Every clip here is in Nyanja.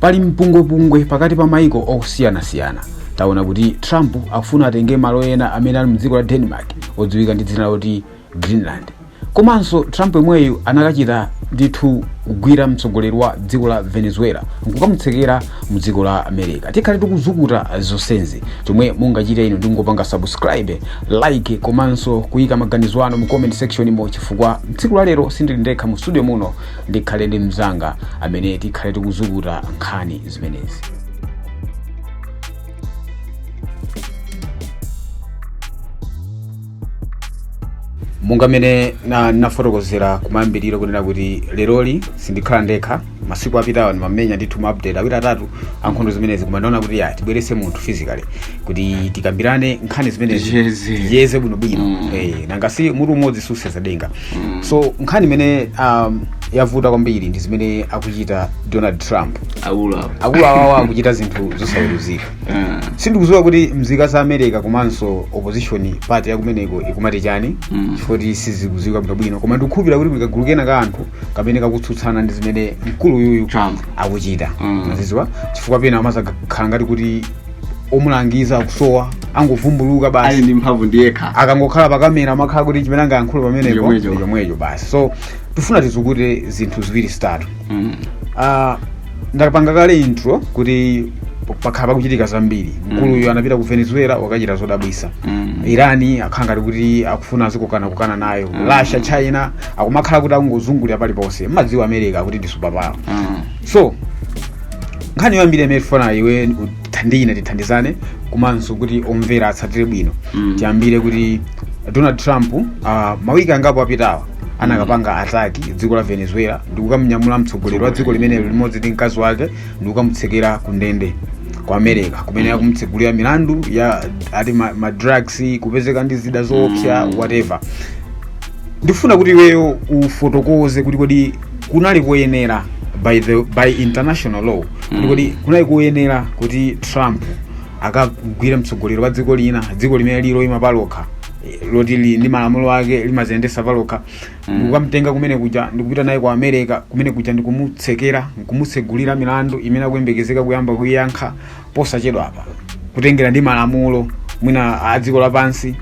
pali mpungwepungwe pakati pa maiko osiyanasiyana taona kuti trump akufuna atenge malo ena amene ali mdziko la denmark odziwika ndi dzina loti greenland komanso trump yemweyu anakachita ndithu kugwira mtsogoleri wa dziko la venezuela nkukamutsekera mu dziko la america tikhale tikuzukuta zonsezi chomwe mungachite inu ndingopanga subscribe like komanso kuyika maganizo anu mu comment section mo chifukwa tsiku la lero sindili ndekha mu studio muno ndikhale ndi mnzanga amene tikhale tikuzukuta nkhani zimenezi monga mmene na- nafotokozera kumayambiriro kunena kuti leroli sindikhala ndekha masiku apitawa ndimamenya ndithu maupdate awiri atatu ankhondo zimenezi koma ndaona kuti ya tibwerese munthu physically kuti tikambirane nkhani zimenezi tiyeze bwinobwino nanga si mutu umodzi susenza denga so nkhani imene um, yavuta kwambiri ndi zimene akuchita donald trump akuluakulu awawa akuchita zinthu zosaweruzika sindikuziwa kuti mzika za america komanso opposition party yakumeneko ikumati chani chifoti sizikuziwika bwinobwino koma ndikukhulupira kuti kagulu kena ka anthu kamene kakutsutsana ndi zimene mkulu uyuyu akuchita ndaziziwa chifukwa pena amazakhala ngati kuti omulangiza akusowa angovumbulutsa ali basi ndi mphamvu ndi yekha akangokhala pakamera amakhala kuti chimene angayankhule pamenepo ndi chomwecho basi so tifuna tizukute zinthu ziwiri zitatu ndapanga kale intro kuti pakhala pakuchitika zambiri mkuluyo anapita ku venezuela wakachita zodabwisa iran akhala ngati kuti akufuna azikokana kukana nayo russia china akumakhala kuti akungozungulira paliponse mmadziwa america kuti ndi superpower so nkhani yoyambira imene tifuna iwe uthandine tithandizane komanso kuti omvera atsatire bwino tiyambire kuti donald trump uh, mawiki angapo apitawa anakapanga attack dziko la venezuela ndikukamunyamula mtsogoleri wa dziko limenelo limodzi ndi mkazi wake ndikukamutsekera ku ndende ku america kumene akumutsegulira milandu ya ati ma, ma drugs kupezeka ndi zida zoopsa whatever ndifuna kuti iweyo ufotokoze kuti kodi kunali koyenera by, the, by international law kuti kodi kunali koyenera kuti trump akamgwire mtsogoleri wa dziko lina dziko limene lili loima palokha eh, loti li ndi malamulo ake limaziyendesa palokha ndikukamtenga kumene kuja ndikupita naye ku america kumene kuja ndikumutsekera nkumutsegulira milandu imene akuyembekezeka kuyamba kuiyankha posachedwapa kutengera ndi malamulo mwina a dziko lapansi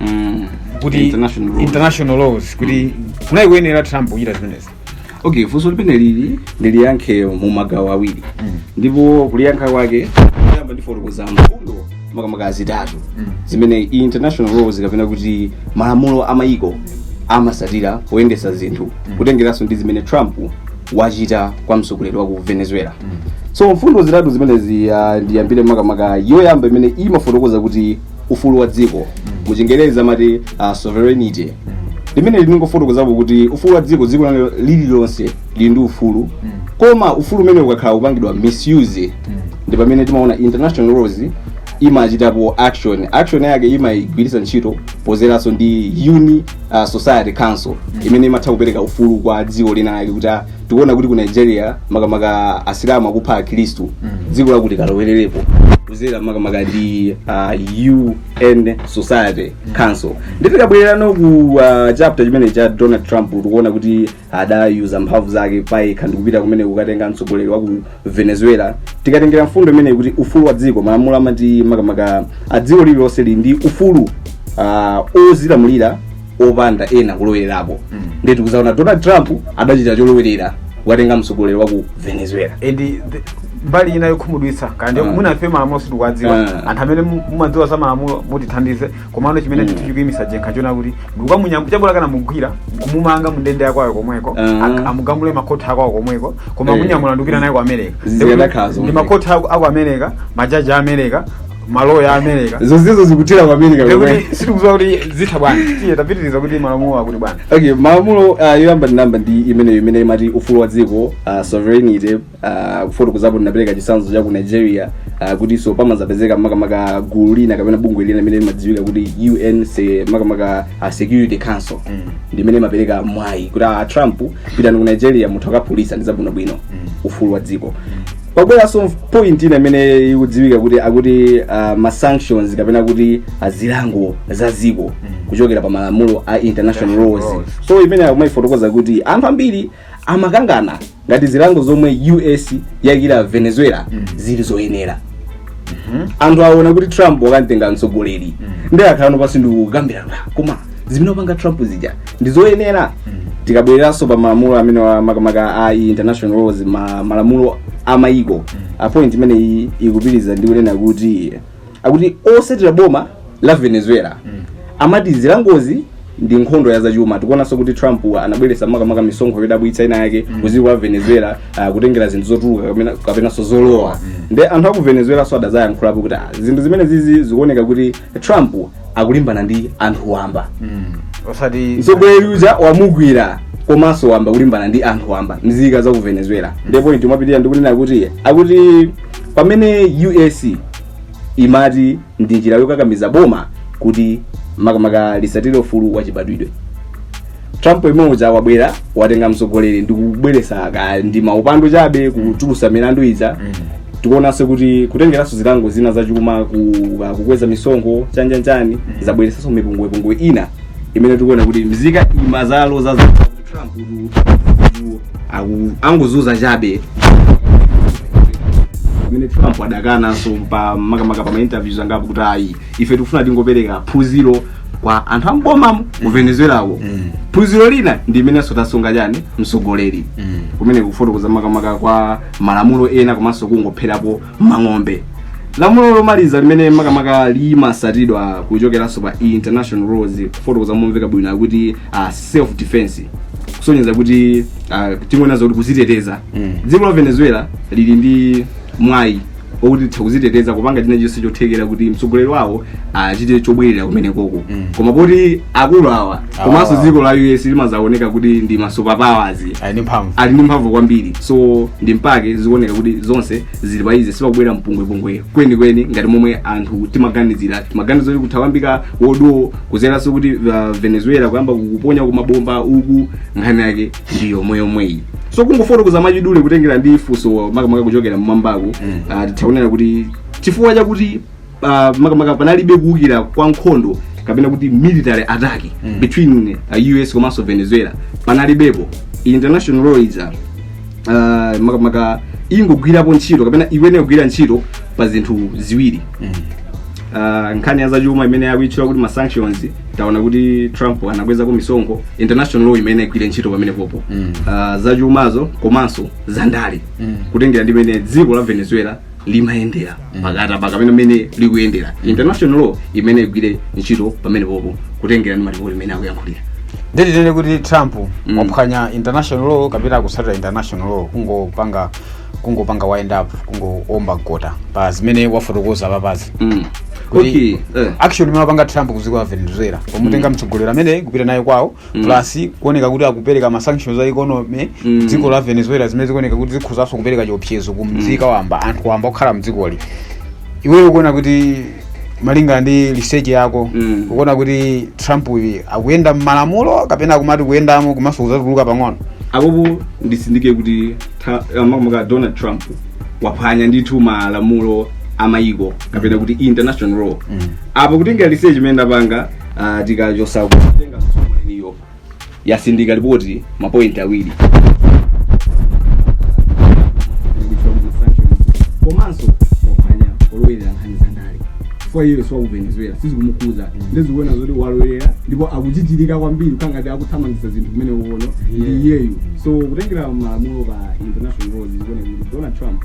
kuti International rules. international laws kuti kunali kuyenera trump kuchita zimenezi okay funso limeneli ndiliyankhe mu magawo awiri ndipo kuliyankha kwake poyamba ndifotokoza mfundo makamaka zitatu zimene international laws kapena kuti malamulo a mayiko amasatira poyendesa zinthu kutengeranso ndi zimene trump wachita kwa mtsogoleri wa ku venezuela so mfundo zitatu zimenezi ah, ndiyambire makamaka yoyamba imene imafotokoza kuti ufulu wa dziko mu chingerezi amati ah, sovereignty limene likufotokozapo kuti ufulu wa dziko dziko lalo- lililonse lili ndi ufulu koma ufulu umene ukakhala kupangidwa misuse ndi pamene timaona international laws imachitapo action action yake imaigwiritsa ntchito podzeranso ndi un uh, security council imene imatha kupereka ufulu kwa dziko lina lake kuti ah, tikuona kuti ku nigeria makamaka asilamu akupha akhristu dziko lakuti kalowererepo kudzera makamaka ndi uh, un security council nde tikabwererano ku uh, chapter chimene cha donald trump tikuona kuti adayuza mphamvu zake payekha ndikupita kumene kukatenga mtsogoleri waku venezuela tikatengera mfundo imeneyi kuti ufulu wa dziko malamulo amati makamaka a dziko lililonse lili ndi ufulu ah, ozilamulira opanda ena kulowererapo ndiye tikudzaona donald trump adachita cholowerera kukatenga mtsogoleri wa ku venezuela and the- mbali ina yokhumudwitsa kwambiri Ah. mwina ife malamulo sitikuwadziwa Ah. anthu amene mu- mumadziwa za malamulo mutithandize komano chimene Mm. chinthu chikuimitsa jenkha nchoona kuti ndikukamunyambo chabwera akanamugwira nkumumanga mundende yakwawo komweko Ah. ak- amugamule makhoti akwawo komweko koma Eh. kumunyamula ndikupita naye ku america Ziyadakhazo ndi mweneko. makhoti aku aku america majaji a america maloya a america zonsezo zikutera ku america komwe Ndikuti sitikudziwa kuti zitha bwanji tiye tapitiriza kuti malamulo akuti bwanji okay malamulo uh, yoyamba ndinamba ndi imeneyo imene imati ufulu wa dziko uh, sovereignty ah, kufotokozapo ndinapereka chitsanzo cha ku nigeria ah, kutinso pamadzapezeka makamaka gulu lina kapena bungwe lina limene limadziwika kuti un se- makamaka ah, security council ndimene imapereka mwayi kuti a trump pitani ku nigeria munthu akaphulitsa ndi zabwinobwino ufulu wa dziko pabweranso point ina imene ikudziwika kuti akuti uh, ma sanctions kapena kuti ah, zilango za dziko kuchokera pa malamulo a international International laws laws. so imene akumayifotokoza kuti anthu ambiri amakangana ngati zilango zomwe us yaikira venezuela zili zoyenera anthu aona kuti trump wakamtenga mtsogoleri nde akhalano pansi ndikukambirana koma zimene wapanga trump zija ndi zoyenera tikabwereranso pa malamulo amene wa- makamaka a international laws ma, malamulo a mayiko ah point imeneyi ikupitiriza ndi kunena kuti akuti otsatira boma la venezuela amati zilangozi ndi nkhondo ya zachuma tikuonanso kuti trump anabweretsa makamaka misonkho yodabwitsa ina yake ku dziko la venezuela ah, kutengera zinthu zotuluka kapena- kapenanso zolowa nde anthu aku venezuela so adadzayankhulapo kuti ah, zinthu zimenezizi zikuoneka kuti trump akulimbana ndi anthu wamba osati mtsogoleri uja wamugwira komanso wayamba kulimbana ndi anthu wamba mzika za ku venezuela nde point imapitirira ndikunena kuti akuti pamene us imati ndi njira yokakamiza boma kuti makamaka lisatire ufulu wa chibadwidwe trump yemwe uja wabwera watenga mtsogoleri ndi kubweresa ka ndi milandu chabe kuchulutsa milandu ija tikuonanso kuti kutengeranso zilango zina zachuma ku- ka- kukweza misonkho chanichani zabweresanso mipungwepungwe ina imene tikuona kuti mzika imazalo za angozunza chabe imene trump adakananso pa makamaka pa mainterviews angapo kuti ayi ife tikufuna tingopereka phunziro kwa anthu ambomamo ku venezuelako phunziro lina ndi imenenso tasunga chani, mtsogoleri kumene kufotokoza makamaka kwa malamulo ena komanso kungopherapo mang'ombe lamulo lomaliza limene makamaka limasatidwa kuchokeranso pa international rules kufotokoza momveka bwino akuti uh, self defense kusonyeza kuti uh, chingonena kuti kuziteteza Mm. dziko la venezuela lili ndi mwayi okuti litha kuziteteza kupanga china chonse chothekera kuti mtsogoleri wawo apite chobwerera kumenekoko Mm. koma poti akulu awa komanso dziko la us limazaoneka kuti ndi masupapowers ali ndi mphamvu ali ndi mphamvu kwambiri so ndi mpake zikuoneka kuti zonse zili phee sipakubwera mpungwepungwe kwenikweni ngati momwe anthu timaganizira timaganiza kuti kutha kuyambika world war kuzeranso kuti uh, venezuela kuyamba kuponya mabomba uku nkhani yake ndi yomweyomweyi so kungofotokoza mwachidule kutengera ndi funso makamaka kuchokera mmwambaku mm. uh, tithakunena kuti chifukwa chakuti uh, makamaka panalibe kuwukira kwa nkhondo kapena kuti military attack mm. between uh, us komanso venezuela panalibepo international law is uh, uh, makamaka ingogwirapo ntchito kapena imene igwire ntchito pa zinthu ziwiri mm. Uh, nkhani ya zachuma imene akuitchula kuti masanctions taona kuti trump anakwezako misonkho international law imene igwire ntchito pamenepopo mm. uh, zachumazo komanso zandale mm. kutengera ndi mmene dziko la venezuela limayendera pakati pa kapena mmene likuyendera international law imene igwire ntchito pamenepopo kutengera ndi malipoti mmene akuyankhulira nde tinene kuti trump Mm. waphwanya international law kapena akusatira international law kungopanga kungopanga wind up kungoomba mkota pa zimene wafotokoza papazi Mm. Kuti- okay eh. action imene wapanga trump kuziko la venezuela pomutenga mtsogoleri amene kupita naye kwawo Mm. plus kuoneka kuti akupereka ma sanctions a economy Mm. dziko la venezuela zimene zikuoneka kuti zikhuzanso kupereka chiopsezo ku mzika wamba anthu wamba okhala mdzikoli iweyo ukuona kuti malinga ndi research yako Mm. ukuona kuti trump uyu akuyenda mmalamulo kapena akumati kuyendamo komanso kuzatuluka pang'ono apopo ndisindike kuti ta- makamaka donald trump waphwanya ndithu malamulo amayiko kapena kuti international law apa kutengera research imene ndapanga Ah, tikachotsa kutenga sukulu iliyo yasindika lipoti ma point awiri komanso waphwanya walowerera nkhani za ndale chifukwa iyeyo si wa ku venezuela sizikumukhudza ndi zikuoneka zoti walowerera ndipo akujijirika kwambiri kukhala ngati akuthamangitsa zinthu koma mwini ndi iyeyu so kutengera malamulo pa international laws zikuoneka kuti donald trump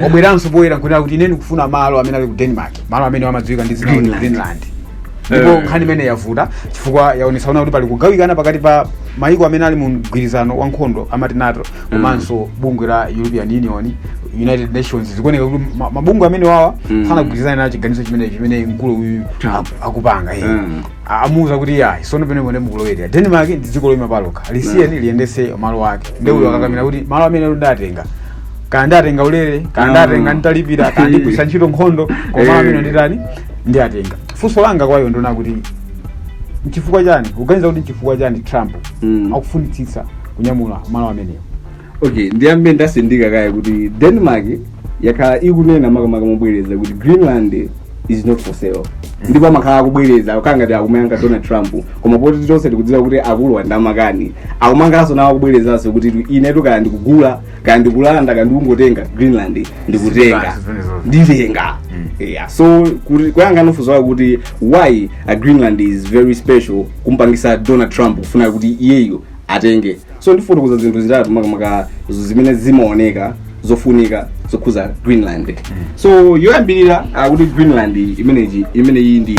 wabweranso poyera nkunena kuti ine ndikufuna malo amene ali ku denmark malo amene amadziwika ndi dzina kuti Greenland. greenland ndipo Eh. nkhani imeneyi yavuta chifukwa yaonetsa kunena kuti pali kugawikana pakati pa mayiko amene ali mu mgwirizano wa nkhondo amati nato komanso bungwe la european union united nations zikuoneka kuti ma- mabungwe amenewawa Mm. sanagwirizana nacho chiganizo chimene chimene mkulu uyu Trump. aku- akupanga iye. Mm. A- amuuza kuti ayi tsono pamenepo mwina mukulowerera denmark ndi dziko loyima palokha lisiyeni liyendese malo ake nde uyo akakamira kuti malo amenewa nditenga kaya nditenga ulere kaya Mm. nditenga nditalipira kaya ndigwiritsa ntchito nkhondo koma Eh. amenewa nditani ndiwatenga funso langa kwa iwe ndonena kuti nchifukwa chani ukuganiza kuti nchifukwa chani trump Mm. akufunitsitsa kunyamula malo amenewo okay ndiyambe ndatsindika kaye kuti denmark yakhala ikunena makamaka mobwereza kuti greenland is not for sale ndipo amakhala akubwereza kukhala ngati akumaka donald trump koma poti tonse tikudziwa kuti akuluwa nda makani akumakanso nawo akubwerezanso kuti inetu kaya ndikugula kaya ndikulanda kaya ndikungotenga greenland ndikutenga Zipani zimenezo. nditenga yeah. so kuti- kuyankhano funso lako kuti why uh, greenland is very special kumpangitsa donald trump kufuna kuti iyeyo atenge so ndifotokoza zinthu zitatu makamaka zo- zimene zimaoneka zofunika zokhudza greenland so yoyambirira kuti greenland imeneyi imeneyi ndi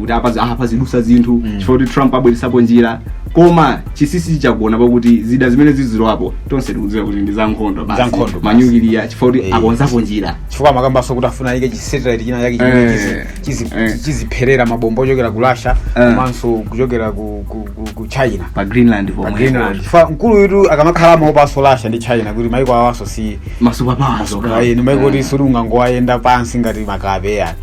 kuti apa aha pazidutsa zinthu Mm. chifukwa kuti trump abweretsapo njira koma chinsinsi chagona pakuti zida zimene zizidzerapo tonse tikudziwa kuti ndi za nkhondo Za nkhondo basi. manyukiliya chifukwa kuti Eh. akonzapo njira chifukwa amakambanso kuti afuna ayike chisatellite china chake chimene Eh, chizi- chizi- eh. chizipherera mabombo ochokera ku russia Eh. komanso kuchokera ku, ku, ku, ku china pa greenland pompo pomwe greenland chifukwa mkuluyutu akamakhala amaopanso russia ndi china kuti maiko awanso si masewera pawawo ayi ni maiko kuti suli ungangowayenda pansi ngati makape yani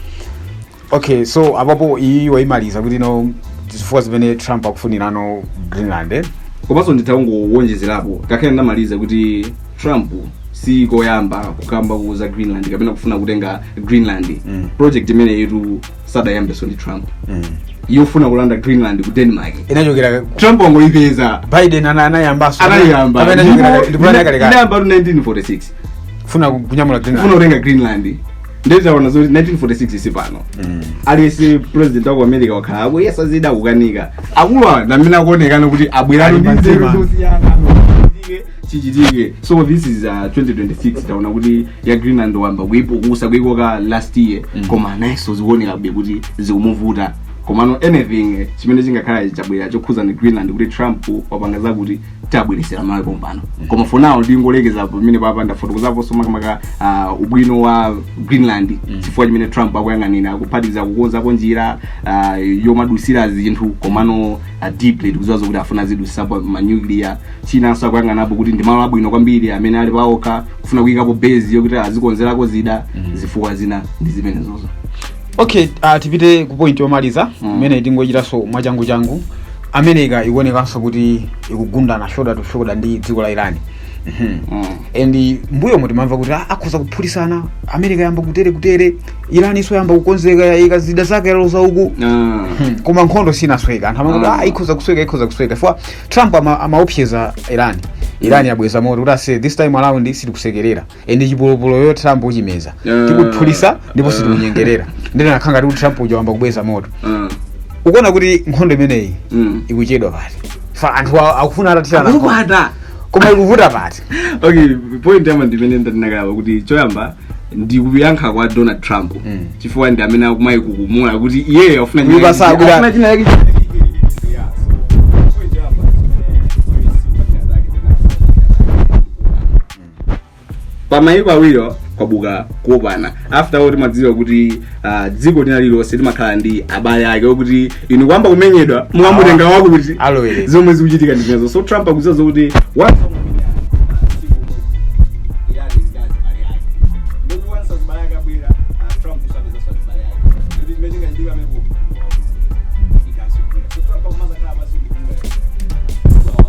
okay so apapo iyi waimaliza kuti ndizo zifukwa zimene trump akufunirano greenland eh? komanso nditangowonjezerapo ngakhale ndamaliza kuti trump si koyamba kukamba zokhudza greenland kapena kufuna kutenga greenland mm. project imeneyitu sadayambenso ndi trump mm. yofuna kulanda greenland ku denmark inachokera trump wangoipeza biden ana- anayambanso anayiyamba Kapena inachokera- ndipo inayambatu 1946 kufuna kunyamula greenland kutenga greenland nde taona zoti 1946 kufika pano aliyese president waku america wakhala akuyesa zida akukanika akulu awa ndi amene akuonekana kuti abwerano Ali ndi nzeru pantima. zosiyana Chichitike, chichitike so this is uh, 2026 taona kuti ya greenland wayamba kuipukusa kuikoka last year koma nayenso zikuonekabe kuti zikumuvuta komano anything eh, chimene chingakhala chabwera chokhudzana ndi greenland kuti trump wapanga zakuti tabweresera malawi pompano koma for now ndingolekeza pamenepapa ndafotokozaponso makamaka ah, ubwino wa greenland chifukwa chimene trump akuyang'anira akuphatikiza kukonzapo njira ah, yomadutsira zinthu komano ah, deeply tikudziwa zokuti afuna azidutsitsapo manuclear chinanso akuyang'anapo kuti ndi malo abwino kwambiri amene ali paokha kufuna kuyikapo base yokuti azikonzerako zida zifukwa zina ndi zimenezozo okay uh, tipite ku point yomaliza Mm. imene tingochitaso mwachangu changu america ikuonekanso kuti ikugundana shoulder to shoulder ndi dziko la irani Mhm. Mm. and m'mbuyomu timamva kuti "Ah, akhoza kuphulitsana america yayamba kutere kutere irani nayonso yayamba kukonzeka yayika zida zake yaloza uku Ah. Mhm. koma nkhondo sinasweka anthu amati Mm. ah, ikhoza kusweka ikhoza kusweka chifukwa trump ama- amaopseza irani irani yabweza moto kuti ase this time around sitikusekerera And chipolopolo cho trump uchimeza Ah. tikuphulitsa ndipo Ah. sitikunyengerera nde zinakhala ngati kuti trump uja wayamba kubweza moto Ah. ukuona kuti nkhondo imeneyi Mm. ikuchedwa pati ifa anthu a- akufuna atathirana nkhondo. Akukwata. koma ikuvuta pati okay point yoyamba ndimene ndandinakalawa kuti choyamba ndi kuyankha kwa donald trump Mm. chifukwa ndi amene akumaikukumula kuti iyeyo afuna Iye basa akuda- afuna china yake pamayiko awiriwa kwabuka kuwopana after all timadziwa kuti ah, dziko lina lililonse limakhala ndi abale ake okuti inu mukayamba kumenyedwa mukamutenga wako kuti Alowerera. zomwe zikuchitika ndi zimenezo so trump akudziwa zokuti wa-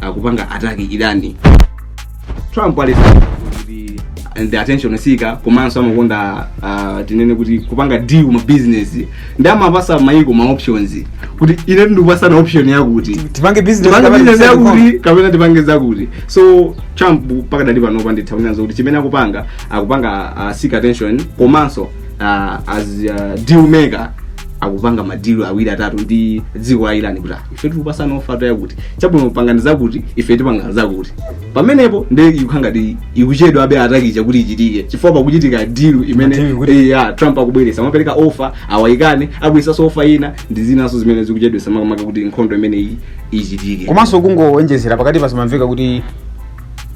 akupanga attack iran trump ali kuti ndi attention seeker komanso amakonda uh, tinene kuti kupanga deal ma business nde amapatsa mayiko ma options kuti ine ndikukupatsani option yakuti tipange business tipange kapena business tipange com. yakuti kapena tipange zakuti so trump pakadali panopa nditha kunena zakuti chimene akupanga akupanga uh, seek attention komanso uh, as uh, deal maker akupanga madilu awiri atatu ndi dziko la iran kuti ah, ife tikupatsani offer yakuti chabwino pangani zakuti ife tipanga zakuti pamenepo nde ikukhala ngati ikuchedwa attack ija kuti ichitike chifukwa pakuchitika dilu imene Deal kuti- eh, ya trump akubweretsa amapereka offer awa aikane abweretsanso offer ina ndi zinanso zimene zikuchedwetsa makamaka kuti nkhondo imene iyi ichitike komanso kungowonjezera pakatipa zimamveka kuti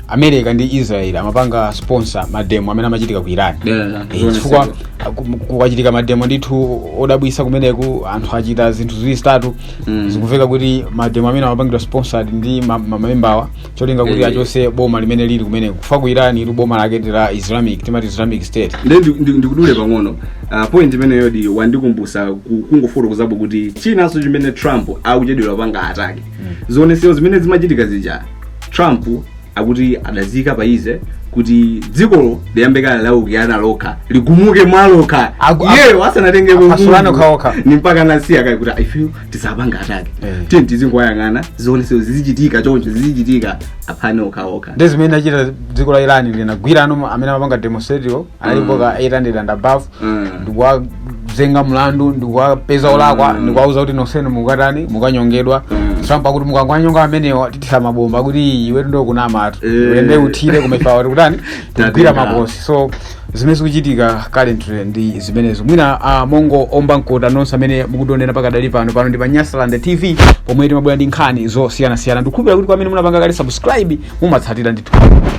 america ndi israel amapanga sponsor mademo amene amachitika ku iran Yeah, Eh, zoona chifukwa dzulo. aku- kukachitika mademo ndithu odabwisa kumeneku anthu achita zinthu ziwiri zitatu Mm. zikumveka kuti mademo amene amapangidwa sponsored ndi ma- ma- ma embawa cholinga kuti Eh. achose boma limene lili kumeneko chifukwa ku iran ija boma lake ndi la islamic timati islamic state Ndi- ndi- ndi- ndikudule pang'ono Ah, point imeneyodi wandikumbutsa ku- kungofotokozapo kuti chinanso chimene trump akuchedwera kupanga attack zionetsero zimene zimachitika zija trump akuti adaziyika pa easy kuti dzikolo liyambe kaye laukirana lokha ligumuke mwalokha Aku- aku- iyeyo asanatengeko apasulane Mulungu. okhaokha. ndiye mpaka anasiya kaye kuti ifeyo tisapange attack Eh. tiyeni tizingowayang'ana zionetsero zizichitika choncho zizichitika aphane okhaokha nde zimene linachita dziko la iran linagwira anthu amene amapanga demonstratio alipo ka 800 and above Mm. ndikuwazenga mlandu ndikuwapeza olakwa ndikuwauza kuti nosenu mukatani mukanyongedwa trump akuti mukangowanyonga amenewa tithira mabomba kuti iwe ndiwe ukunamatu Eh. ulende uthire kumefawa kuti kutani Tatenga. tigwira makosi so zimene zikuchitika currently ndi zimenezo mwina uh, mongoomba mkota nonse amene mukutionera pakadali pano pano ndi pa Nyasaland tv pomwe timabwera ndi nkhani zosiyanasiyana ndikukhulupira kuti kwa amene munapanga kale subscribe mumatsatira ndithu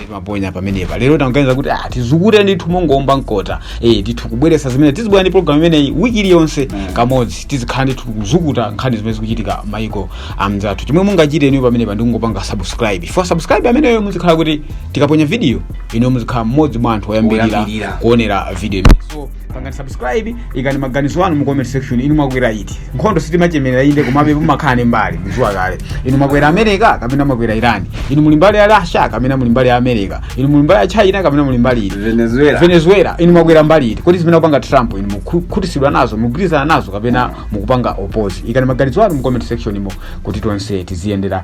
timaponya pamenepa lero tinaganiza kuti ah tizukute ndithu mongoomba mkota eh ndithu kubweresa zimene tizibwera ndi program imeneyi wiki iliyonse kamodzi tizikhala ndithu kuzukuta nkhani zimene zikuchitika maiko amzathu chomwe mungachite inuyo pamenepa ndi kungopanga subscribe for subscribe ameneyo muzikhala kuti tikaponya video inuyo muzikhala mmodzi mwa anthu oyambirira Oyambirira. kuonera video imeneyi. so pangani subscribe ikani maganizo anu mu comment section inu mwakwera iti nkhondo sitimachemerera inde komabe mumakhala ni mbali muziwa kale inu mwakwera america kapena mwakwera irani inu muli mbali ya russia kapena muli mbali ya america inu muli mbali ya china kapena muli mbali iti venezuela venezuela inu mwakwera mbali iti kodi zimene akupanga trump inu mukukhutitsidwa nazo mukugwirizana nazo kapena mukupanga oppose ikani maganizo anu mu comment section imo kuti tonse tiziyendera